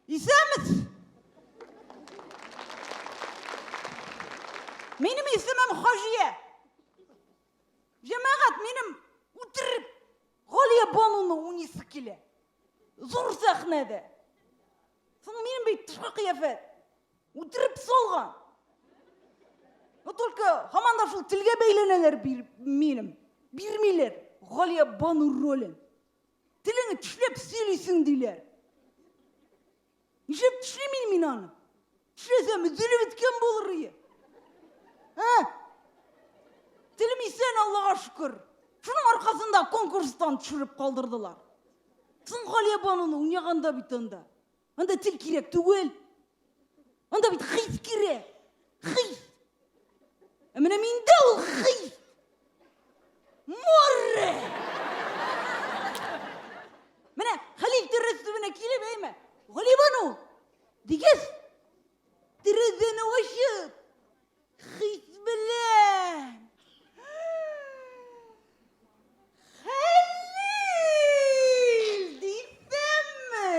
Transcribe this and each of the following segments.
Исәнмес! Минем исемем Хаҗия. Җәмәгать, минем үтереп Галия Бануны унисы килә. Зур сәхнәдә. Соң минем бит тышкы кыяфәт. Үтереп салган. Но только һаман да шул телгә бәйләнәләр бир, минем. Бирмиләр Галия Бану ролен. Телеңне тешләп сөйлисең, диләр. Нишләп тешлим мин мин аны? Тешләсәм, өзелеп беткән булыр ие. Ә? Телем исән, Аллага шөкер. Шуның аркасында конкурстан төшереп калдырдылар. Соң Галия бануны уйнаганда бит анда. Анда тел кирәк түгел. Анда бит хис кирәк. Хис. Ә менә миндә ул хис. Море! Менә Хәлил дөрес төбенә килеп әйме. Галибану! Дигәс, терезене ачып, Хит белән! Хәлил! Дисәмме?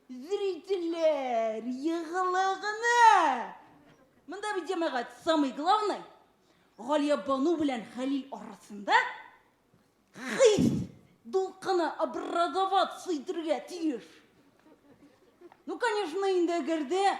Зрительләр, егылыгына! Монда бит җәмәгать самый главный. Галия Бану белән Хәлил арасында хис дулкыны образоваться итергә тиеш. Ну, конечно, инде әгәр дә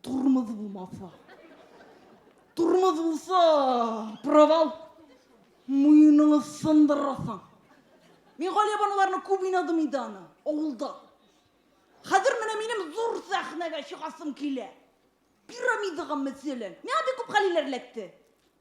Тормоз булмаса. Тормоз булса, провал. Муеныны сындырасың. Мин Галия баналарны күп уйнадым инде аны, авылда. Хәзер менә минем зур сәхнәгә чыгасым килә. Пирамидаға мәсәлән. Миңа бик күп хәлиләр эләкте.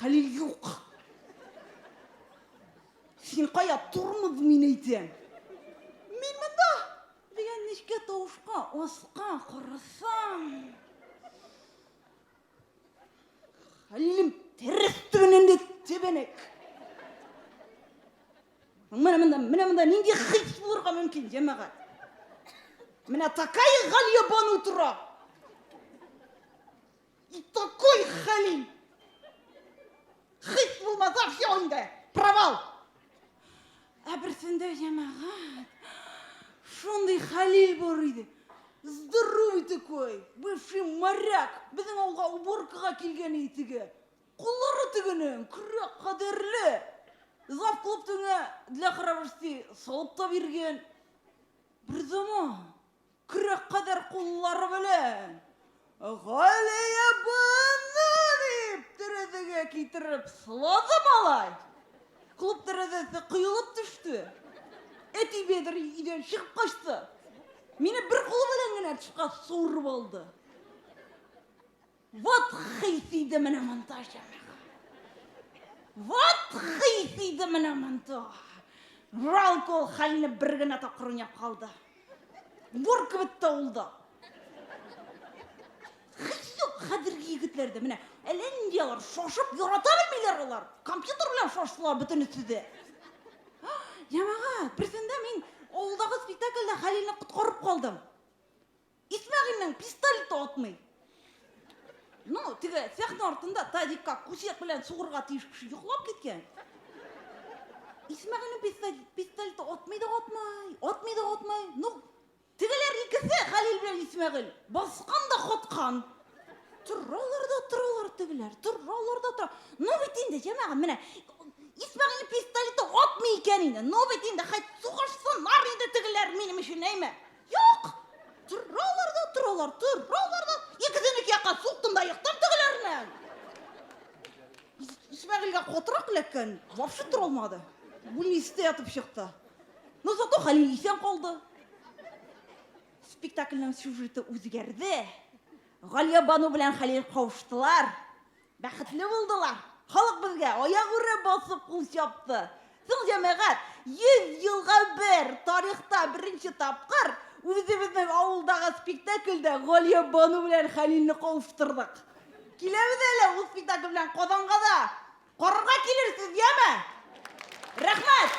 Хәлил юк. Син кая, тормоз мин әйтәм. Мин монда! дигән нечкә тавышка аска карасам. Хәлилем тәрәз төбеннән дә тәбәнәк. Менә монда, менә монда нинди хис булырга мөмкин, җәмәгать? Менә такая Галия бану тора. И такой хәлим! Хит булмаса все инде! Провал! Ә берсендә җәмәгать шундый хәлил бар иде. Здоровый такой, бывший моряк, безнең авылга уборкага килгән иде теге. Куллары тегенең, күрәк кадерле. Зав клуб тегеңә для храбрости салып та биргән. Бер заман Көрәк кадәр куллары белән Галия апаны дип тәрәзәгә китереп сылады малай. Клуб тәрәзәсе коелып төште. Әти Бәдер өйдән чыгып качты. Мине бер кулы белән генә тышка суырып алды. Вот хис иде менә монда җәмәгать. Вот хис иде менә монда. Ралк ул хәлне бер генә тапкыр уйнап калды. Бур кебек тә ул да. Хис юк хәзерге егетләрдә. Менә әллә нинди алар шашып ярата белмиләр алар. Компьютер белән шаштылар бөтенесе дә. Җәмәгать, берсендә мин авылдагы спектакльдә Хәлилне коткарып калдым. Исмәгыйльнең пистолеты атмый. Ну, теге сәхнә артында тазикка күсәк белән сугырга тиеш кеше йоклап киткән. Исмәгыйльнең пистолеты атмый да атмый, атмый да атмый. Ну, тегеләр икесе, Хәлил белән Исмәгыйль, баскан да коткан. Торалар да торалар тегеләр, торалар да тора. Ну бит инде, җәмәгать, менә Исмәгыйльнең пистолеты атмый икән инде. Ну бит инде, хәт сугышсыннар инде тегеләр минем өчен, әйме? Юк! Торалар да торалар, торалар да, икесен ике якка суктым да ектым тегеләрнең. Исмәгыйльгә катырак эләккән, вообще тора алмады. Бүлнистә ятып чыкты. Но зато Хәлил исән калды. Спектакльнең сюжеты үзгәрде. Галиябану белән Хәлил кавыштылар. Бәхетле булдылар. Халык безгә аягүрә басып кул чапты. Соң, җәмәгать, 100 елга бер, тарихта беренче тапкыр үзебезнең авылдагы спектакльдә Галия бану белән Хәлилне кавыштырдык. Киләбез әле ул спектакль белән Казанга да. Карарга килерсез, яме? Рәхмәт!